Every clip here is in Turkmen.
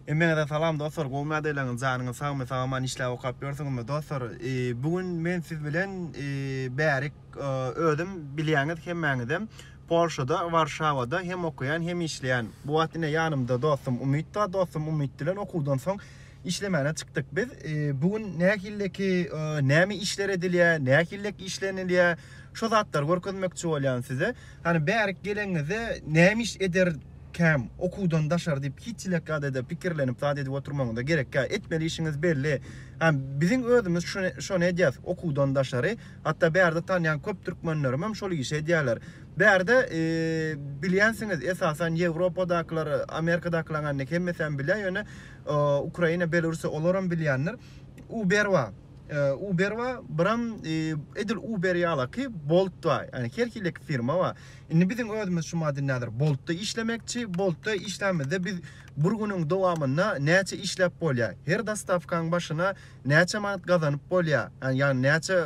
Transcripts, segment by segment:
Hemmeňize salam dostlar gowy nädeýleňiz janyňyz sagmy sag aman işläp okap ýörsüňizmi dostlar bu gün men siz bilen bärik özüm bilýäňiz hemmäňizem Polşada Warşawada hem okaýan hem işleýän bu wagt ine ýanymda dostum Umyt bar dostum Umyt bilen okuwdan soň işlemäne çykdyk biz bu gün nähilleki näme işler edilýär nähillek işlenilýär şo zatlary görkezmekçi bolýan size hany bärik geleňizde näme iş eder Käm, okuwdan daşary diýip hiç ýylek ýadada pikirlenip zat edip oturmagyňyza gerek ýa, etmeli işiňiz belli. Hä, biziň özümiz şony edýäs, okuwdan daşary, hatda bärde tanýan köp türkmenlerimem şol işi edýäler. Bärde bilýänsiňiz esasan Ýewropadakylar, Amerikadakylaň ände hemmesäm bilýä, ýöne Ukraina, Belorussiýa olaram bilýändir. Uber bar. Uber bar, biram edil Uber ýalaky Bolt bar. Ýani her hileki firma bar. Indi biziň özümiz şu maddy nädir boltda işlemekçi, boltda işlämizde biz bir günüň dowamynda näçe işläp bolýar, her dostawkaň başyna näçe manat gazanyp bolýar, ýagny näçe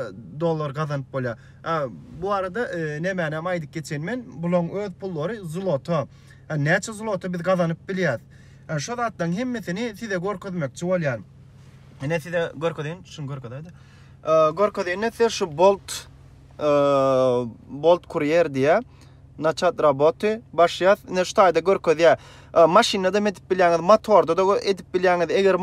dollar gazanyp bolýar. A bu barada nämänäm aýdyp geçeýin men, bulaň öz pullary zlota. Näçe zlota biz gazanyp bilýäs. Şo zatlaň hemmesini size görkezmekçi bolýan. Ine size görkezeýin, şuny görkezeýde. Görkezeýin-de size şu bolt Bolt kurýer diýä. Naçat roboty. Başýas. Ine şu taýda görkezýä. Maşynda da edip bilýäňiz, motorda da edip bilýäňiz. Eger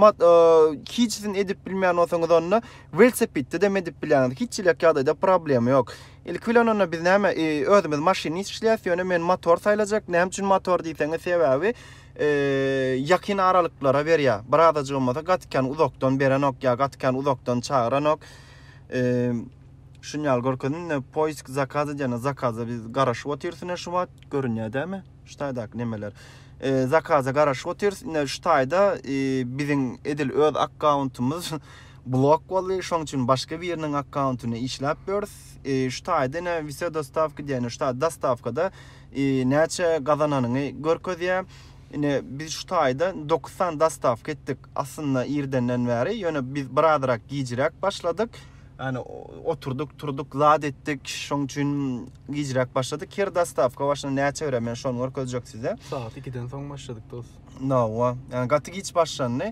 hiçsin edip bilmeýän bolsaňyz onda welosipedde de edip bilýäňiz. Hiç ilek ýagdaýda problema ýok. Ilki bilen onda biz näme özümiz maşyny işleýäs, ýöne men motor saýlajak. Näme üçin motor diýseňiz sebäbi ýakyn aralyklara berýär. Bir azajygam bolsa gaty kän uzakdan berenok ýa gaty kän uzakdan çagyranok. Şuny ýaly görkezdim. Indi poisk zakaz edýän zakaza biz garaşyp otyrys indi şu wagt. Görünýär dämi? Şu taýdaky nemeler. E, zakaza garaşyp otyrys. Indi şu taýda e, biziň edil öz akkauntymyz blok boldy. Şoň üçin başga biriniň akkauntyny işläp ýörüs. E, şu taýda indi wise dostawka diýen şu taýda dostawkada e, näçe gazananyny görkezýär. Indi biz şu taýda 9 sany dostawka etdik. Aslynda irdenden bäri, ýöne biz birazrak gijiräk başladyk. Yani oturduk, turduk, zat ettik. Şoň üçin gijräk başladyk. Her dostavka başyna näçe berem, men şony görkezjek size. Saat 2-den soň başladyk dos. Nawa. Yani gaty giç başlandy.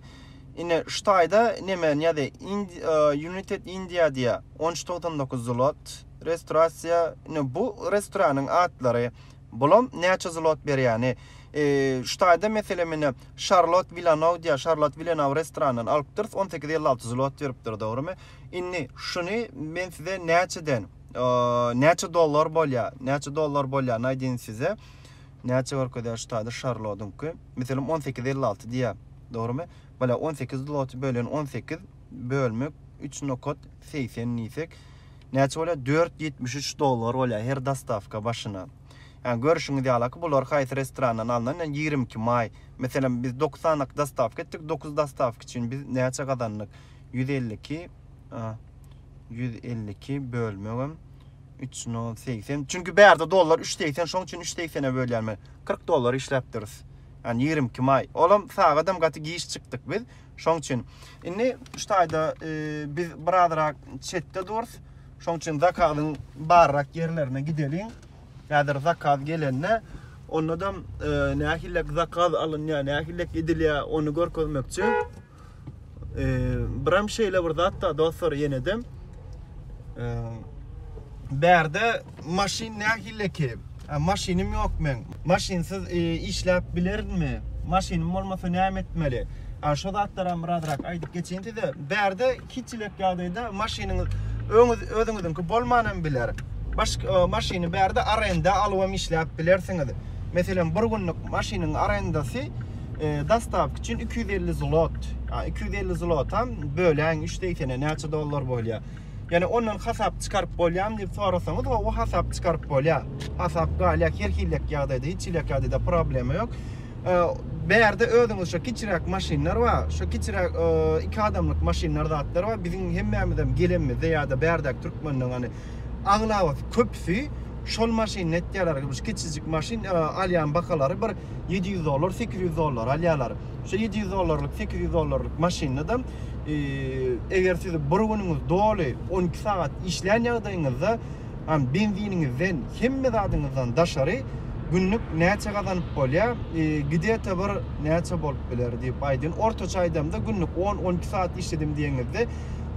Ine şu taýda neme ýa-da e, United India diýä 1399 zlot restorasiýa. Ine bu restoranyň atlary. Bulam näçe zlot berýäni. E, şu taýda meselem ine Charlotte Villanov diýä Charlotte Villanov restoranyndan alypdyrys 1856 zlot beripdir, dogrymy? Indi şuny men size näçeden, näçe dollar bolýar, näçe dollar bolýany aýdýyn size. Näçe görkezýär şu taýda Şarlodyňky? Meselem, 18.56 diýýär. Dogrumy? Bala, 18 zloty bölen 18 bölmek 3,80 diýsek, näçe bolýar? 4,73 dollar bolýar her dostawka başyna. Ýa görüşiňiz ýaly ki, bular haýsy restorandan alnan, ýa 22 maý. Meselem, biz 9 sanyk dostawka etdik, 9 dostawka üçin biz näçe gazandyk? Ýüz elli iki, a, ýüz elli iki bölmegem üç nol segsen. Çünki bärde dollar üç segsen, şoň üçin üç segsene bölýän men. Kyrk dollar işläpdiris. Ýani ýigrimi iki maý. Olam sagadam gaty giç çykdyk biz. Şoň üçin. Indi şu taýda e, biz birazrak çetde durus. Şoň üçin zakazyň barrak ýerlerine gideliň. Häzir zakaz gelende onda da e, nähillek zakaz alynýar, nähillek edilýär, ony görkezmekçi. Biram şeýle bir zatda dostlar ýenede bärde maşyn nähilleki? Maşynym ýok meň. Maşynsyz işläp bilerinmi? Maşynym bolmasa näme etmeli? Şo zatlaram birazrak aýdyp geçeýin size. Bärde Kiçiräk ýagdaýda maşynyňyz özüňiziňki bolmanam biler. Başga maşyny bärde arenda alybam işläp bilersiňiz. Meselem, bir günlük maşynyň arendasy dostawka üçin iki ýüz elli zlot. Iki ýüz elli zlotam böläýiň üç degsene näçe dollar bolýar. Ýöne ondan hasap çykaryp bolýarmy diýip sorasaňyz, hawa, hasap çykaryp bolýar. Hasap galýar, her hillek ýagdaýda, hiç hillek ýagdaýda problema ýok. Bärde özüňiz şo kiçiräk maşynlar bar. Şo kiçiräk iki adamlyk maşynlar zatlar bar. Biziň hemmämizem gelenimizde ýa-da bärdäki türkmenleň hani aglabasy köpüsi şol maşyny etýärler. Şu kiçijik maşyn alýan bahalary bir 700 dollar, 800 dollar alýarlar. Şo 700 dollarlyk, 800 dollarlyk maşynda eger siz bir günüňiz doly on iki sagat işlän ýagdaýyňyzda Hany benziniňizden hemme zadyňyzdan daşary günlük näçe gazanyp bolýa, gide-te bir näçe bolup biler diýip aýdyn. Ortaça aýdamda günlük on-on iki saat işledim diýeňizde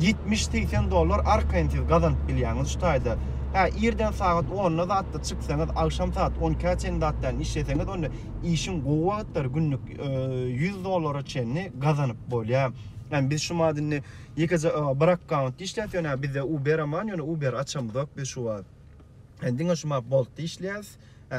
ýetmiş-segsen dollar arkaýyn siz gazanyp bilýäňiz şu taýda. Hä irden sagat onda zatda çyksaňyz agşam saat on ikä çenli zatdan işleseňiz onda işiň gowy wagtlary günlük ýüz dollara çenli gazanyp bolýa. Hany biz şumady indi Ýekeje bir akkaunt işlät ýöne bizde uber aman ýöne uber açamyzok biz şu wagt. Diňe şu map boltda işleýäs.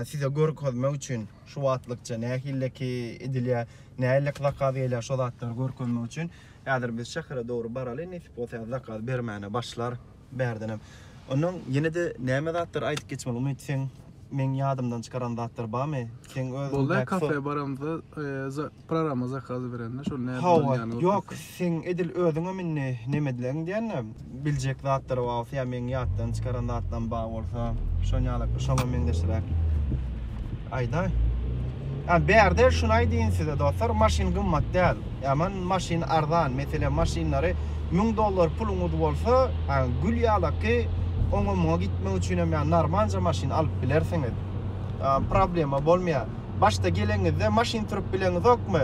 Size görkezmek üçin şu wagtlykça nähilleki edilýä, nähilleki zakaz gelýä şo zatlary görkezmek üçin. Häzir biz şähere dogry baraly nesip bolsa ýa zakaz bermäne başlar. Bärdenem. Onnoň ýene-de näme zatlar aýdyp geçmelimiýdi? Seň meň ýadymdan çykaran zatlar bamy? Seň öz Bolda kafe baramyzda za prorama zakaz berende şol näme bolýany. Hawa, ýok, seň edil özüňem indi nemedileň diýende biljek zatlar bawsy ýa meň ýatdan çykaran zatlam bar bolsa, şon ýalak şoňa meňzeşräk aýdaý. Bärde şuny aýdyýyn size dostlar, maşyn gymmat däl. Ýaman maşyn arzan, meselem maşynlary müň dollar puluňyz bolsa, gül ýalaky oňa muňa gitmek üçinem ýa narmanca maşyn alyp bilersiňiz. Problema bolmaýar. Başda geleňizde maşyn sürüp bileňizokmy?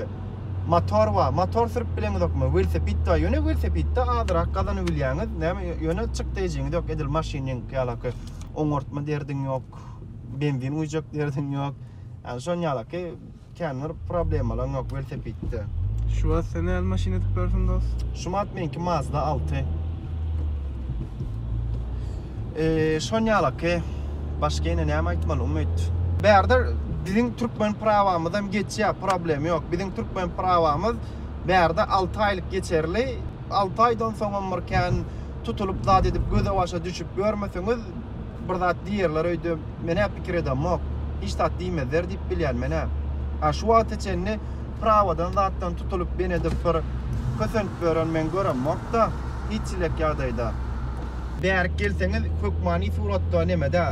Motor bar, motor sürüp bileňizokmy? Welosiped bar, ýöne welosipedde azyrak gazanybilýäňiz, näme ýöne çyk deýjiňiz ýok, edil maşynyňky ýalaky oňartma derdiň ýok, benzin guýjak derdiň ýok. Ýa şon ýalaky Kän bir problemalaň ýok welosipedde. Şubat sen näme maşyn edip ýörsiň dos? Şumat meňki Mazda 6. Eee şon ýalaky. Başga ýene näme aýtmaly Umyt? Bärde biziň türkmen prawamyzam geçýär problem ýok. Biziň türkmen prawamyz bärde alty aýlyk geçerli. Alty aýdan soňam bir kän tutulyp zat edip göze başa düşüp ýörmeseňiz bir zat diýerler öýde men-ä pikir edemok, hiç zat diýmezler diýip bilýän men-ä. A şu wagta çenli prawadan zatdan tutulyp ben edip bir kösenip ýören men göremmok-da, hiç ilek ýagdaýda. Bärik gelseňiz hökmany suratda nemede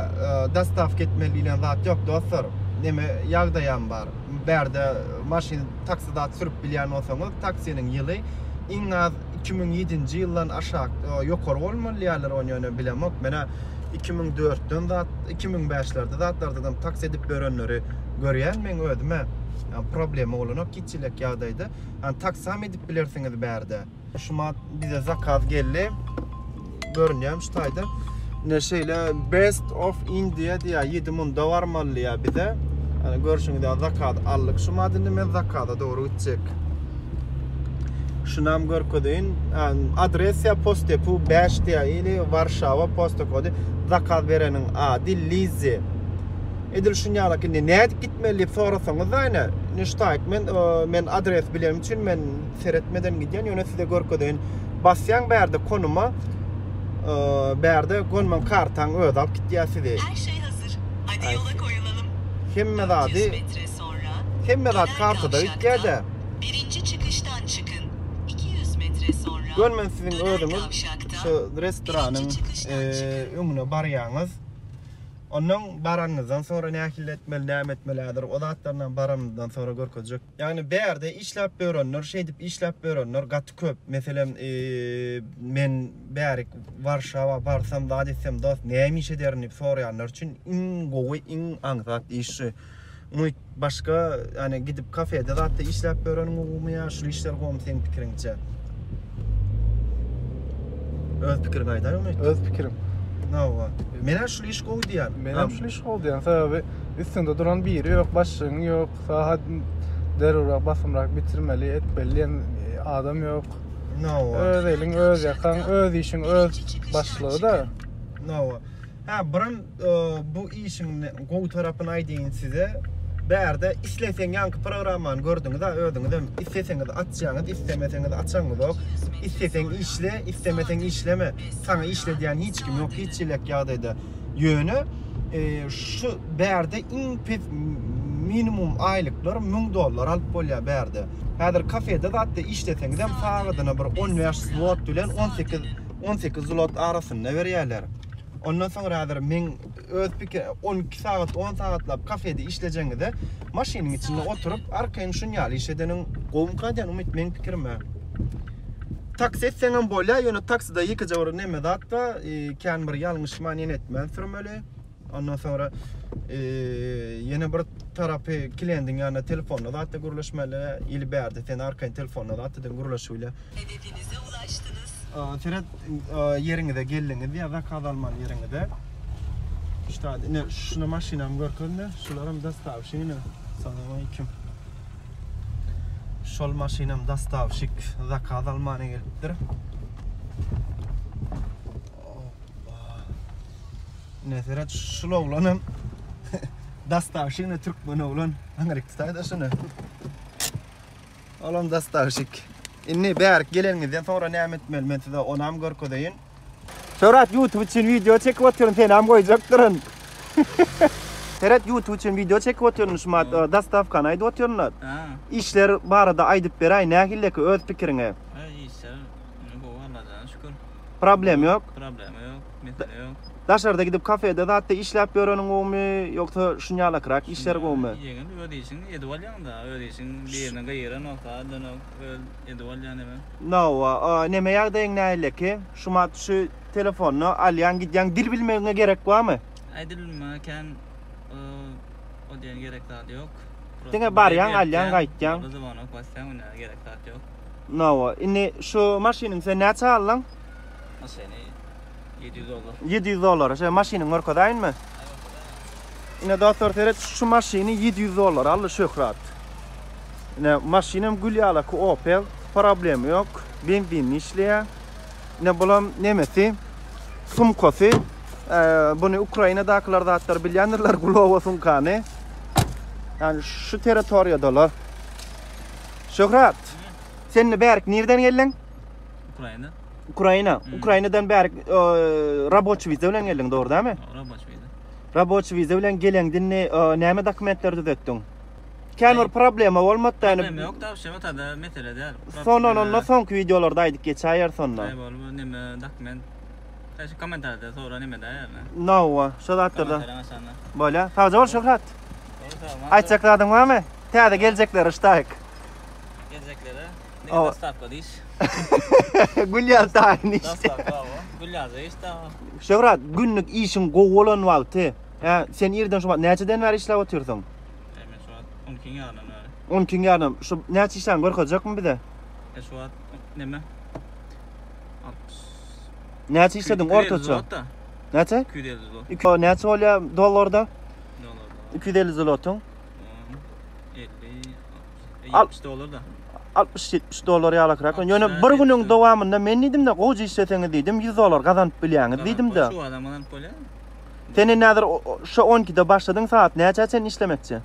dostawka etmeli diýlen zat ýok dostlar, neme ýagdaýam bar, bärde maşyn taksi zat sürüp bilýän bolsaňyz taksiniň ýyly iň az, iki müň ýedinji ýyldan aşak ýokary bolmaly diýýärler ony ýöne bilemok menä iki müň dörtden zat iki müň bäşlerde zatlardadan taks edip ýörenleri görýän meň özüme problema bolanok kiçijek ýagdaýda ýa taksam edip bilersiňiz bärde şu bize zakaz geldi. görünýämiş taýda. Ne şeýle best of india diýýär. Ýedi munda barmaly diýýär bize. Ýani görşüňiz ýaly zakaz aldyk şu madyny men zakaza dogry gitjek. Şunam görkezeýin. Adres ýa postepu 5 diýýär. Ili Warşawa posta kody. Zakaz bereniň ady Lizi. Edil şun ýalak indi nädip gitmeli diýip sorasaňyz da ine. Ine şu taýt men men adres bilenim üçin men Seretmeden gidýän ýöne size görkezeýin. Basýaň bärde konuma. Bärde gonmaň kartaň özi alyp gitýär sizi. Her şey hazır. Hadi yola koyulalım. Hemme zady. Hemme zat kartada gitýär-de. Birinji çykyşdan çykyn. 200 metre sonra. Gönmen siziň özüňiz şu restoranyň öňüne barýaňyz. Ondan baranyňyzdan sonra nähili etmeli, näme etmeli häzir o zatlarynam baranyňyzdan sonra görkezjek. Ýagny bärde işläp ýörenler, şeýdip işläp ýörenler gaty köp. Meselem, men bärik Warşawa barsam, zat etsem, dost, näme iş ederin diýip soraýanlar üçin iň gowy, iň aňsat iş şu. Muhit başga, ýagny gidip kafede zatda işläp ýören gowumy ýa şul işler gowumy seň pikiriňçe? Öz pikiriňi aýdaý Muhit. Öz pikirim. Hawa. Men-ä şul iş gowy diýýän. Menem şul iş gowy diýýän. Sebäbi üstüňde duran biri ýok, başlygyň ýok. Saha zerurrak, basymrak bitirmeli, etmeli diýen adam ýok. No. Öz eliň, öz ýakaň, öz işiň, öz başlygy-da. No. Hä, birin e, bu işiň gowy tarapyny aýdaýyn size. Bärde isleseň ýaňky programmany gördüňiz-ä özüňizem. Isleseňiz açýaňyz, islemeseňiz açaňyzok. Isleseň işle, islemeseň işleme. Saňa işledýän hiç kim ýok, hiç elek ýagdaýda. Ýöne şu bärde iň pes minimum aýlyklar 1000 dollar alyp bolýar bärde. Häzir kafede zatda işleseňizem sagadyna bir 15 zlot bilen 18 18 zlot arasynda berýärler. Ondan soň häzir men öz pikir 12 sagat 10 sagatlap kafede işlejeňize maşynyň içinde oturyp arkaýyn şunýaly iş edeniň gowy mukadden umyt meň pikirimä. Taksi etseňem bolýar, ýöne takside ýekeje bir neme zat bar, kän bir ýalňyş manyny etmän sürmeli. Ondan soňra ýene bir tarapy kliýendiň ýanyna telefonda zat-da gürleşmeli, ili bärde sen arkaýyn telefonda zat-da gürleşip bile. Hedefinize ulaşdyňyz. Seret ýeriňize geldiňiz ýa zakaz almaly ýeriňize. Şuny maşynam görkezme, şularam dostawşyny. Salam aleýkum. Şol maşynam dastavşik zakaz almana gelipdir. Neseret şul oglanam dastavşigine türkmen oglan Angrik Stayda şunu. Olam dastavşik. Inni bärik gelenizden sonra näme etmeli men size onam görkezeyin. Şöhrat YouTube üçin video çekip otyryn senam goýjaktyryn. Seret YouTube üçin video çekip otyryn şu mat dostawkany aýdyp otyryn. Işler barada aýdyp beräý nähilleki öz pikiriňi. Işler gowy Allajana şükür. Problem ýok. Problem ýok. Mesele ýok. Daşarda gidip kafede zatda işläp ýöreniň gowumy ýogsa şunýalakrak işler gowumy? Ýeňil öz işiňi edip alýaňda öz işiň birine gyýyran bolsa dönüp öz Edip alýan emem. Nawa, neme ýagdaýyň nähilleki? Şumat şu telefony alýaň gidýäň dil bilmegiňe gerek barmy? Aý dil bilmegime kän o diýen gerek zat ýok. Diňe barýaň alýaň gaýtýaň. Ýa-da zwanok basýaň ine gerek zat ýok. Nawa, indi şu maşynyň sen näçä aldyň? Maşyny 700 dollar. 700 dollara. Şeýle maşyny görkezäýinmi? Ine dostlar seret şu maşyny 700 dollar aldy Şöhrat. Ine maşyn hem gül ýalaky Opel, problemi ýok. Benzinli işleýär. Ine bulam nemesi sumkasy. Bunu Ukrainadakylar zatlar bilýändirler glowa sumkany. Yani şu territoriýadalar. Şöhrat, sen de bärik nirden geldiň? Ukraina. Ukraina. Hmm. Ukrainadan bäri e, raboçi wiza bilen geldiň, dogry dämi? Raboçi wiza. Raboçi wiza bilen geleňdin, e, näme dokumentleri düzetdiň? Kän bir problema bolmady da. Problem ýok, dawşy ýok, tada mesele däl. Sonra onda soňky wideolarda aýdyp geçäýer sonda. Näme bolma, näme dokument. Kaç kommentariýada sonra näme däýer? No, şu zatlarda. Bolýa. Sag bol, Şöhrat. Aýtjak zadyň barmy? Täze geljekler, ştaýk. Geljeklere. Ne O- dastavka diýiş. Gülýaz taýyn işde. Dastavka o. Gülýaza iş da. Şöhrat, günlük işiň gowy bolan wagty, hä, sen irden şu wagt näçeden bäri işläp otyrsyň? Ey, Men şu wagt 12 ýardan bäri. 12 ýardan. Şu näçe işläň görkezjekmi bize? E şu wagt neme? 60. Näçe işlediň ortaça? Näçe? 250 zlot. Iki, o, näçe bolýar dollarda? Dollarda. 250 zlotyň. 50. 70 dollar da. 60-70 dollar ýalakrak. Ýöne bir günüň dowamynda men diýdim-de, gowja işleseňiz diýdim, 100 dollar gazanyp bilýäňiz diýdim-de. Şu adam gazanyp bolýar. Sen indi häzir şu 12-de başladyň, sagat näçä çenli işlemekçi?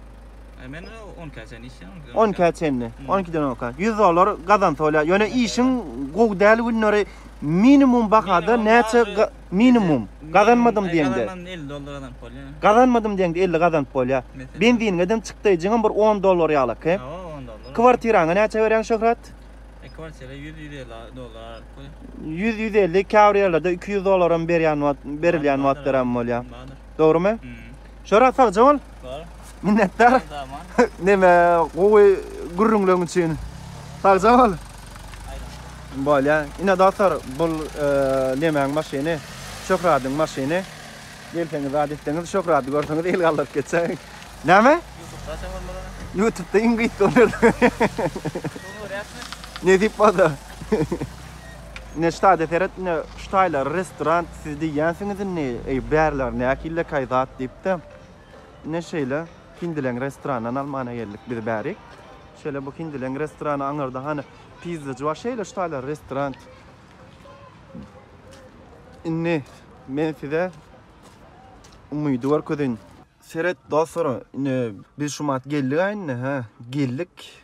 Men 12-ä çenli işleýän. 12-ä çenli. 12-den oka. 100 dollar gazansa bolýar. Ýöne işiň gowy däl günleri minimum bahada näçe Minimum, gazanmadym diýeňde. Gazanmadym diýende elli dollar gazanyp bolýar. Gazanmadym diýeňde elli gazanyp bolýar. Benziniňeden çykdaýjyňam bir on dollar ýaly ki. Hawa, on dollar. Kwartiraňa näçe berýäň Şöhrat? E, kwartira ýüz, ýüz elli dollar alyp goý. Ýüz, ýüz elli, käbir ýerlerde iki ýüz dollaram berýän wagt, berilýän wagtlaram bolýar. Dogrumy? Hum. Şöhrat sagja bol. Minnetdar. Neme gowy gürrüňleň üçin. Sagja bol. Bolýa. Ine dostlar, bul e, nemäň maşyny? Şöhradyň maşyny. Gelseňiz zat etseňiz, Şöhrady görseňiz el galdyryp geçseň. Näme? YouTube-da iň gyýtly olar. Nesip bolsa. Ine şu taýda seret, ine şu taýlar restoran siz diýýänsiňiz indi, eý bärler näkilekaý zat diýipdi. Ine şeýle hindileň restoranyndan almana geldik biz bärik. Şeýle bu hindileň restorany aňyrda hany pizzachy bar şeýle şu taýlar restoran. Indi men size Umydy görkezin. Seret dostlar, ine biz şumat geldik-ä indi, hä geldik.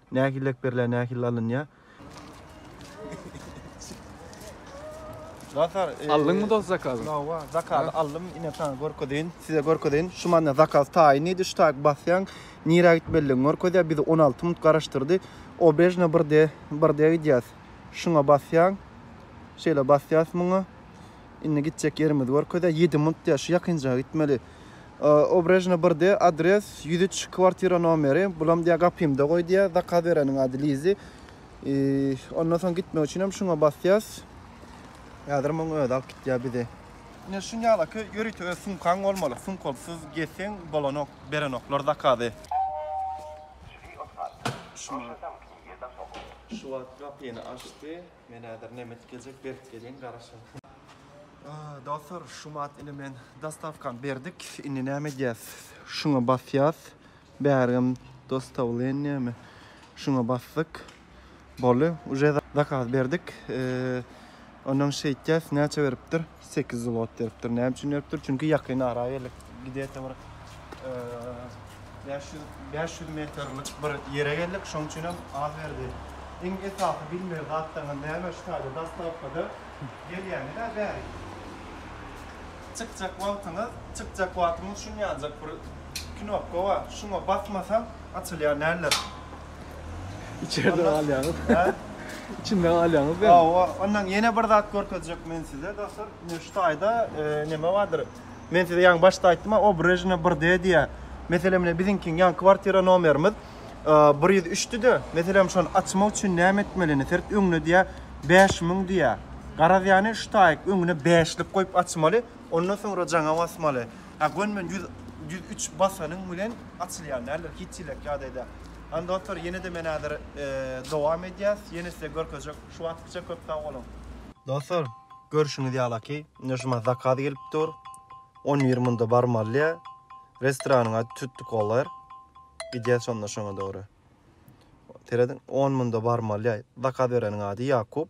Nähili ek berilýär, nähili alynýar? Dostlar, e, Aldyňmy dost zakazy? Hawa, zakazy aldym. Ine sana görkezeýin, size görkezeýin. Şu manda zakaz taýyn diýdi, şu taýy basýaň. Nirä gitmelidigini görkezýär. Bizi 16 minut garaşdyrdy. Obejna birde, birde gidýäs. Şuňa basýaň. Şeýle basýas muňa. Indi gitjek ýerimiz görkeze. Ýedi munt diýýär. Şu ýakynjaga gitmeli. Obrejna birde adres ýüz üç kwartira nomeri. Bulam diýýär gapymda goý diýýär. Zakaz bereniň ady Lizi. Ondan soň gitmek üçin hem şuňa basýas. Häzir muň özi alyp gitýär bizi. Ine şunýalaky ýörite öz sumkaň bolmaly. Sumkasy gezseň bolanok, berenoklar zakazy. Şu wagt gapyny açdy. Men häzir nemes geljek berip gelýin garaşyň. Dostlar şumat ine men dostawkam berdik. Indi näme edýäs? Şuňa basýas. Bärem dostawleniýami? Şuňa basdyk. Boldy. Uje zakaz berdik. Ondan şeýtýäs. Näçe beripdir? Sekiz zlot beripdir. Näme üçin beripdir? Çünki ýakyn ara geldik. Gidete bir 500 500 metrlik bir ýere geldik. Şoň üçin hem az berdi. Iň esasy bilmeli zatlaryňdan näme şikayet daslapkada gelýäniz-ä bäri. Çykjak wagtyňyz, çykjak wagtyňyz şuny ýaljak bir knopka bar. Şuňa basmasaň açylýar näller. İçeride Ondan- galýaňyz. Hä? İçinde galýaňyz diýen. Hawa, ondan ýene bir zat görkezjek men size dostlar. Ine şu taýda e, näme bardyr? Men size ýaňy başda aýtdym, obrežna 1D diýýär. Meselem, ine biziňkiň ýaňky kwartira nomerimiz e, 103-di-de. Meselem, şony açmak üçin näme etmeli? Ine sert öňüne diýýär 5000 diýýär. Garaz ýany şu taýyk öňüne 5-lik goýup açmaly, ondan soňra jaňa basmaly. Ha gönmen 100 103 basanyň bilen açylýan däldir, hiç hili ýagdaýda. Hany dostlar ýene-de men häzir dowam edýäs. Ýene size görkezjek. Şu wagtkyça köp sag boluň. Dostlar görşüňiz ýalaky ine şu zakaz gelip dur. On bir munda barmalya. Restoranyň ady Tütdi Koler. Gidýäs şonda şoňa dogry. Serediň on munda barmalya. Zakaz bereniň ady Ýakup.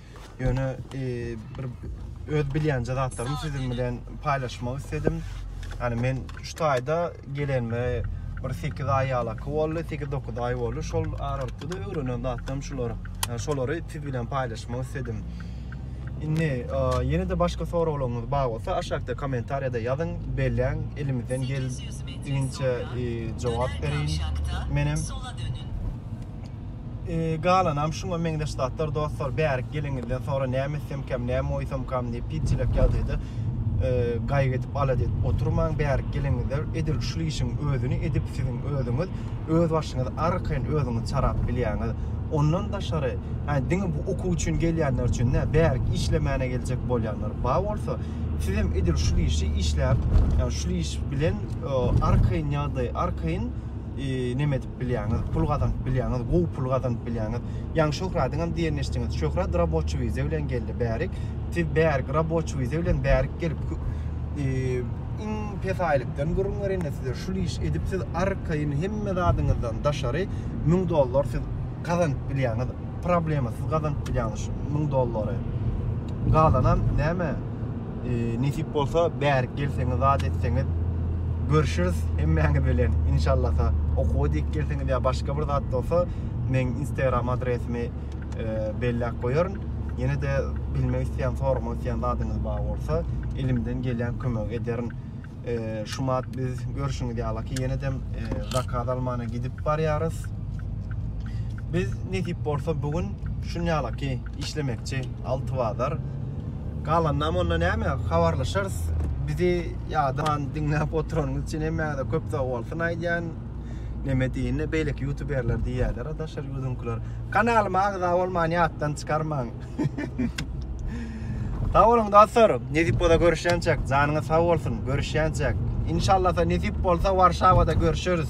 Ýöne e, bir öz bilýänje zatlarymy siziň bilen paýlaşmak istedim. Ýani men şu taýda gelenme bir 8 aý ýalaky boldy, 8-9 aý boldy. Şol aralykda da öwrenen zatlarym şular. E, şolary siz bilen paýlaşmak istedim. Indi e, ýene de başga soraglaryňyz bar bolsa aşakda kommentariýada ýazyň, belläň, elimizden geldigiçe e, jogap bereýin. Menem Ee, galanam şuňa meňzeş zatlar dostlar. Bärik geliňizden sonra näme etsemkäm, näme oýsamkam diýip piçilek ýagdaýda ee, gaýgy edip alada edip oturmaň. Bärik geliňizde edil şu işiň özüni edip siziň özüňiz öz başyňyz arkaýyn özüňiz çarap bilýäňiz. Ondan daşary, hä diňe bu okuw üçin gelýänler üçin dä, bärik işlemäne geljek bolýanlar bar bolsa, sizem edil şu işi işläp, ýa şu iş bilen ee, arkaýyn ýagdaý, arkaýyn ee, neme edip, bilýäňiz, pul gazanyp bilýäňiz, gowy pul gazanyp bilýäňiz. Ýaňy Şöhradyňam derňeşdiňiz. Şöhrat raboçy wiza bilen geldi bärik. Siz bärik raboçy wiza bilen bärik gelip iň pes aýlykdan gürrüň berende size şul iş edip siz arkaýyn hemme zadyňyzdan daşary 1000 dollar siz gazanyp bilýäňiz. Problemasyz gazanyp bilýäňiz 1000 dollary. Galanam näme? Nesip bolsa bärik gelseňiz zat etseňiz görüşüris hemmäňiz bilen inşallasa okuwa dek gelseňiz ýa başga bir zat bolsa meň instagram adresimi belläp goýaryn ýene-de bilmek isleýän soramak isleýän zadyňyz bar bolsa elimden gelýän kömegi ederin. Ee, Şumat biz görüşüňiz ýala ki ýene dem e, zakaz almana gidip barýarys. Biz nesip bolsa bu gün şun ýala ki işlemekçi altı bazar. Galanda onda näme habarlaşarys. Bizi ýadan diňläp oturanyňyz üçin hemmäňize köp sag bolsun aýdýan. Neme diýinde beýleki youtuberler diýýärler, daşary ýurduňkylar. Kanalyma agza bolman ýatdan çykarmaň. Sag boluň dostlar. Nesip bolsa görüşýänçäk. Janyňyz sag bolsun. Görüşýänçäk. Inşallah nesip bolsa Warşawada görüşeris.